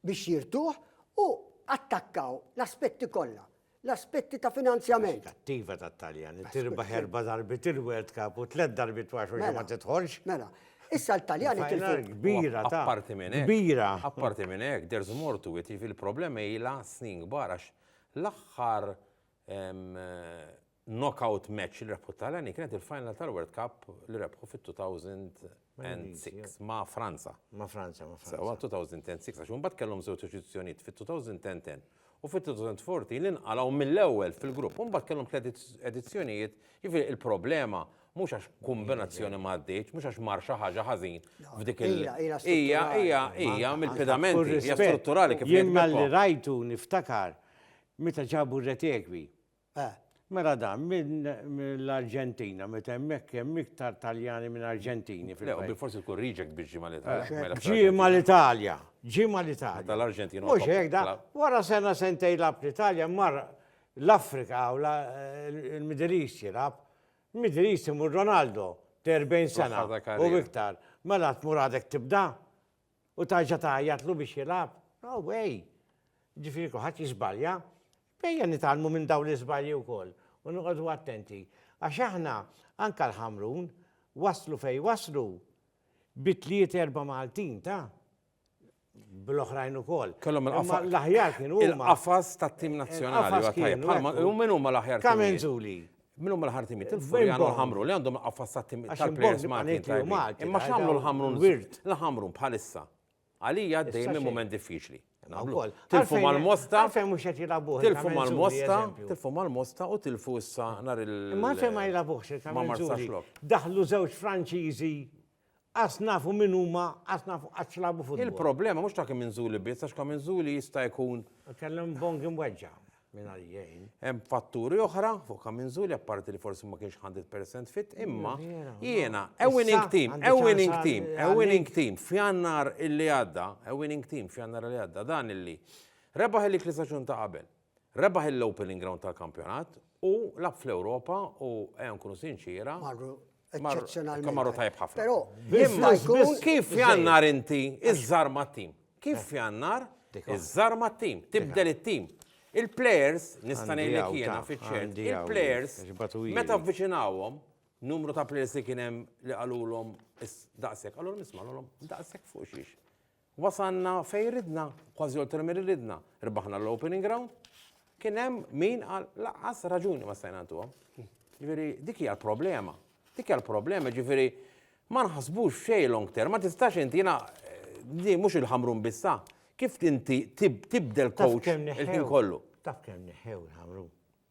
biex jirtuh u attakkaw l-aspetti kollha, l-aspetti ta' finanzjament. Attiva tat-Taljan
li tirbaħ erba' darbiet il-World Cup u tliet darbiet ma xorta ma tidħolx. Mela, issa
l-Taljani tilfu. Kbira ta'. Apparti
minn hekk. Kbira.
Apparti minn
hekk, there's
more to it, jiġifieri l-problema ilha snin kbar għax l-aħħar Knockout match li rebħu t-Taljani kienet il-final tal-World Cup li rebħu fit-2006 ma' Franza. Ma' Franza, ma' Franza.
Sewa 2006, għax
mbagħad kellhom żewġ eċizzjonijiet fit-2010 u fit-2014 li nqalgħu mill-ewwel fil-grupp. Mbagħad kellhom tliet edizzjonijiet, jiġifieri il-problema mhux għax kombinazzjoni ma għaddietx, mhux għax mar xi ħaġa ħażin f'dik il- Hija, hija, hija mill-pedamenti, hija strutturali kif jien. Jien malli rajtu
niftakar Meta ġabu r-reteqwi. Eh. Mela dan mill-Arġentina, meta hemmhekk hemm iktar Taljani minn Arġentini fil-fatt. Le, u bilforsi tkun
reject biex ġie mal-Italja. Ġie mal-Italja,
ġie mal-Italja. Meta l-Arġentin huwa. Mhux hekk
da,
wara sena sentejn jilgħab l-Italja mar l-Afrika u l-Middle East jilgħab. Middle East imur Ronaldo, 40 sena u iktar. Mela tmur għadek tibda? U tarġa' tgħajjatlu biex jilgħab? No way! Jiġifieri kulħadd jiżbalja. Ejja nitgħallmu minn dawn l-iżbalji wkoll u noqogħdu attenti. Għax aħna, anke l-Ħamrun, waslu fejn waslu bi tliet erba' Maltin, ta? Bl-oħrajn ukoll. Kellhom il-qafas. Imma l-aħjar
kienu huma.
Il-qafas tat-tim
nazzjonali. Il-qafas kienu. U min huma l-aħjar tim? Kamenzuli. Minn
huma l-ħartimiet,
il-furjan u l-ħamru li għandhom qaffas ta' tim tal-players Maltin tajbin. Imma x'għamlu l-ħamrun l-ħamrun bħalissa. Għalija dejjem minn mument diffiċli. Tilfu mal-mosta. Tilfu mal-mosta. Tilfu mal-mosta u tilfu issa nar il- Ma fejn ma jilabuħx.
Ma marsax lok. Daħlu żewġ Franċiżi Qas nafu min huma, qas nafu qatt x'lagħbu futbol. Il-problema mhux ta' Kaminzuli
biss għax Kaminzuli jista' jkun. Kellhom Bongi
mweġġa' minn għalijien. Hemm fatturi
oħra fuq Kaminzuli apparti li forsi ma kienx 100% fit imma jiena a winning team, a winning team, a winning team f'Jannar illi għadda, a winning team f'Jannar li għadda dan illi rebaħ il-League li staġun ta' qabel. Rebaħ l-opening round tal-kampjonat u lab fl-Ewropa u ejja nkunu sinċiera. Marru eċċezzjonalment. Marru tajb ħafna. Però imma
jkun kif
jannar inti iżżar mat-tim. Kif jannar iżżar mat-tim, tibdel it-tim. Il-players, nista' ngħidlek jiena fiċ-ċert, il-players meta vviċinawhom numru ta' players li kien hemm li qalulhom daqshekk, qalulhom isma' qalulhom daqshekk fuq xiex. Wasalna fejn ridna, kważi oltre milli ridna. Rbaħna l-Opening Round, kien hemm min qal lanqas raġuni ma stajna ntuha. Ġifieri dik hija l-problema. Dik hija l-problema, ġifieri ma nħassbux f'xejn long term, ma tistax inti jiena di mhux il-Ħamrun biss ha. Kif inti tibdel coach il-ħin kollu? Taf kemm neħħew
il-Ħamrun?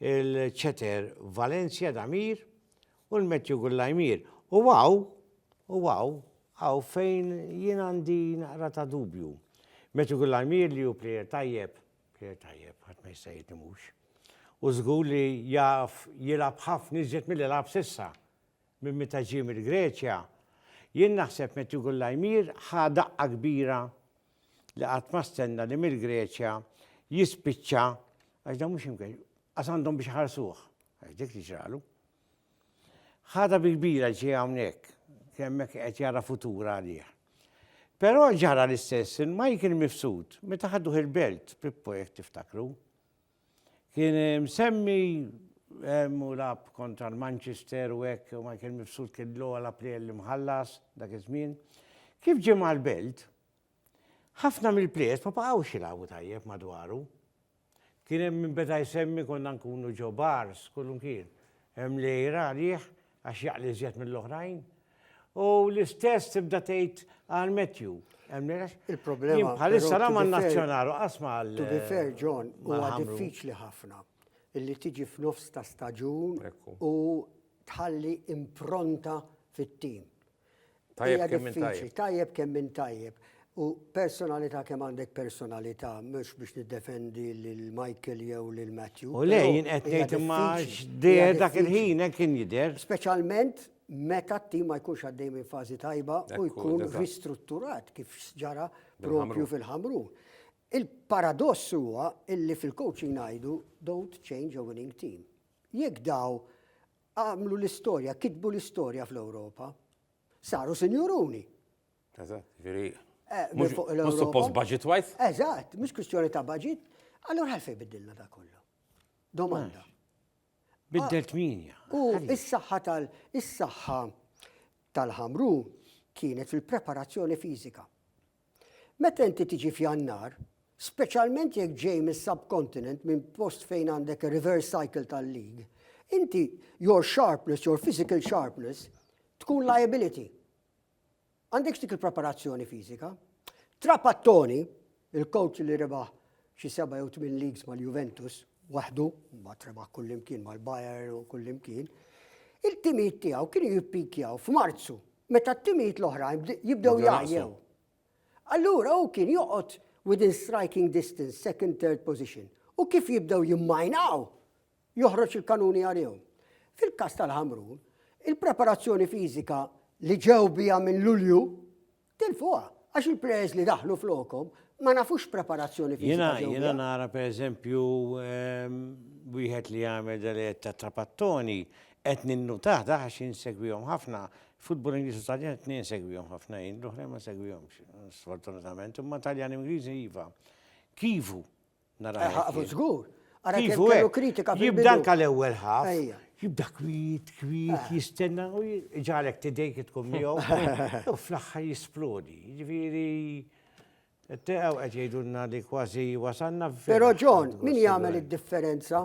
il-Ceter Valencia Damir u l-Matthew Gullaymir. U għaw, u għaw, għaw fejn jien għandi naqra ta' dubju. Matthew Gullaymir li ju plejer tajjeb, plejer tajjeb, għat ma jista' jitni mux. U zgur li jaf jilab ħafna iżjed mill-li lab sissa minn meta ġie mill-Greċja. Jien naħseb Matthew Gullaymir ħa daqqa kbira li qatt ma stenna li mill-Greċja jispiċċa għax dan mhux imkien, għas għandhom biex ħarsuh, għax dik li ġralu. Ħada bi kbira ġie hawnhekk, kemmek qed jara futur għalih. Però ġara l-istess il-Michael Mifsud, meta ħadduh il-belt, Pippo jek tiftakru. Kien msemmi hemm u lagħab kontra l-Manchester u hekk u Michael Mifsud kien l-ogħla la plejer li mħallas dak iż-żmien. Kif ġie mal-Belt, ħafna mill-plejers ma baqgħux jilagħbu tajjeb madwaru. Kien hemm min beda jsemmi konna nkunu ġo bars, kull imkien. Hemm lejra għalih għax jaqli iżjed mill-oħrajn. U l-istess tibda tgħid għal Matthew. Il-problema.
Bħalissa la
man nazzjonal u qasma għal. To be fair, John,
huwa diffiċli ħafna illi tiġi f'nofs ta' staġun u tħalli impronta fit-tim. Tajjeb
kemm minn tajjeb. Tajjeb kemm minn tajjeb.
U personalità kemm għandek personalità, mhux biex niddefendi lil Michael jew lil Matthew. U lej jien qed ngħid
imma x'dejher dak il-ħin hekk kien jidher. Speċjalment
meta t-tim ma jkunx għaddej minn fażi tajba u jkun ristrutturat kif ġara propju fil-Ħamrun. Il-paradoss huwa illi fil-coaching ngħidu don't change a winning team. Jekk daw Għamlu l-istorja, kitbu l-istorja fl-Ewropa. Saru sinjuruni. Eżatt, ġifieri.
Eh, mhux fuq l-Ewropa. Mhux suppost budget wise? Eżatt, mhux kwistjoni
ta' budget. Allura għalfejn biddilna da kollu. Domanda.
Biddelt ah, minja. U is-saħħa
tal is-saħħa tal-ħamru kienet fil-preparazzjoni fiżika. Meta inti tiġi f'Jannar, speċjalment jekk ġej mis-subcontinent minn post fejn għandek ir-reverse cycle tal-league, inti your sharpness, your physical sharpness tkun liability. Għandekx dik il-preparazzjoni fiżika. Trapattoni, il-coach li rebaħ xi seba' jew tmien leagues mal-Juventus, waħdu, mbagħad rebaħ kullimkien mal-Bayern u kullimkien, il-timijiet tiegħu kienu jippikjaw f'Marzu meta t-timijiet l-oħrajn jibdew jgħajjew. Allura hu kien joqgħod within striking distance, second, third position. U kif jibdew jimmajnaw, joħroġ il-kanuni għalihom. Fil-każ tal-Ħamrun, il-preparazzjoni fiżika li ġew biha minn Lulju tilfuha għax il-plejers li daħlu flokhom ma nafux preparazzjoni fiżika. Jiena jiena nara
pereżempju ehm, wieħed li jagħmel dal ta' trapattoni Qed ninnutah dah għax jien insegwihom ħafna. Futbol Ingliż u Taljan it-tnejn insegwihom ħafna jien, l-oħrajn ma nsegwihomx, sfortunatament, imma Taljan u Ingliż iva. Kivu narah hekk jien. Ħa, żgur.
Ara kemm kellu
kritika fil-bidu. Kivu hekk, jibda anke l-ewwel ħaf, jibda kwiet, kwiet, jistenna u jġagħlek tidejk tkun miegħu u fl-aħħar jisplodi. Jiġifieri Teqgħu qed jgħidulna li kważi wasalna f'fejn. Però John,
min jagħmel id-differenza?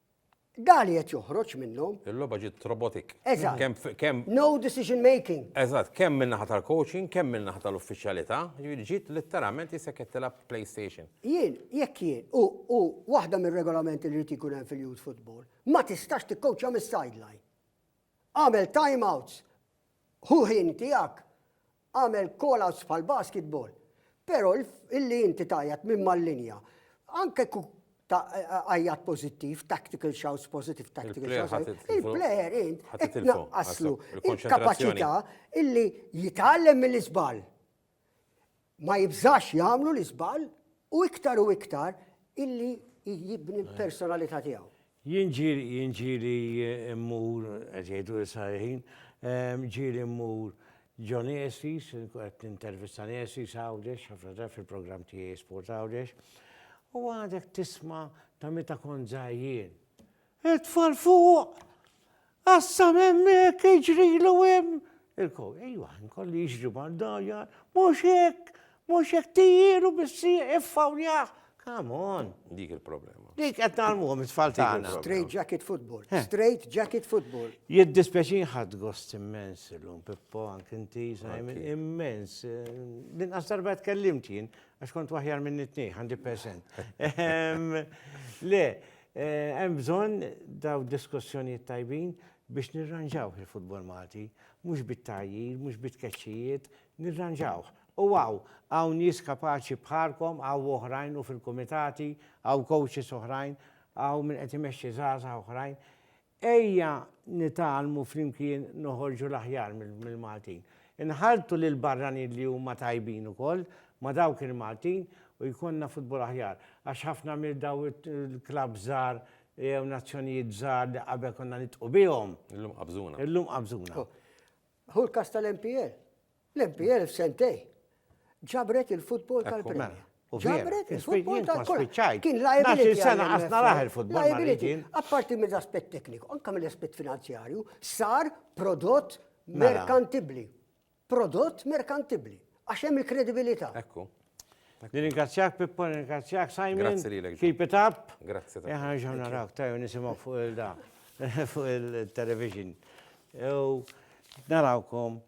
Da li qed joħroġ minnhom. Il-logħba ġiet robotik.
Eżatt. Kemm f- kemm
No decision making. Eżatt, kemm min-naħa
tal-coaching, kemm min-naħa tal-uffiċjalità, jiġifieri ġiet litteralment jista' qed tilgħab PlayStation. Jien, jekk jien,
u, u waħda mir-regolamenti li jrid ikun hemm fil-youth football, ma tistax tikkowċja mis-sideline. Agħmel time outs, Hu ħin tiegħek, agħmel call outs bħal basketball. Però illi inti tgħajjat minn mal-linja, anke kuk ta' għajjat pozittiv, tactical shouts, positive tactical shouts. Il-player int, qed naqqaslu il-kapacità illi jitgħallem mill-isbal. ma jibżax jagħmlu l-iżball u iktar u iktar illi jibni l-personalità tiegħu. Jien ġieli jien
ġieli mmur qed jgħidu l-Israelin, ġieli mmur John Estes, qed nintervista Estes Għawdex, ħafna drabi fil-programm tiegħi Sport Għawdex, u għadek tisma' ta' meta kont żgħir jien. It-tfal fuq! Qassam hemmhekk, iġrilu hemm! Il-kow, ejwa, nkolli jiġri mal-dajja, mhux hekk, mhux hekk tijieru bissi iffawljaħ. Come on! Dik il-problema.
Dik qed nagħlmuhom
it-tfal tagħna. Straight jacket football.
Eh. Straight jacket football. Jiddispjaċin ħadd
gost immens illum, Pippo, anke inti, Simon, immens. Din qasar bad kellimt jien, għax kont waħjar minn it-tnej, 100%. Ehm, le, Hemm bżonn dawn diskussjonijiet tajbin biex nirranġawh il-futbol Malti, mhux bit-tgħajjir, mhux bit-tkeċċijiet, nirranġawh. U hawn, hawn nies kapaċi bħalkom, hawn oħrajn u fil-kumitati, hawn coaches oħrajn, hawn min qed imexxi żgħażagħ oħrajn. Ejja nitgħallmu flimkien noħorġu l-aħjar mill-Maltin. Inħalltu lill-barranin li huma tajbin ukoll ma' dawk il-Maltin u jkollna futbol aħjar. Għax ħafna minn dawn il-klabb żgħar jew nazzjonijiet żgħar li qabel konna nidhqu bihom. Illum qabżuna. Illum
qabżuna.
Hu l-każ
tal-MPL. L-MPL f'sentej ġabret il-futbol tal-Premier. Ġabret il-futbol tal-Premier. Kien liability. sena għasna raħ
il-futbol. Liability. Apparti
minn aspett tekniku, anka minn aspett finanzjarju, sar prodott mela. merkantibli. Prodott merkantibli. Għax hemm il-kredibilità. Ekku.
Nirringrazzjak
Pippo, nirringrazzjak Simon. Grazzi li l Keep it
up.
Grazzi. Eħan ġaw
narak, tajju
nisimaw fuq il-da, fuq il-television. Narawkom.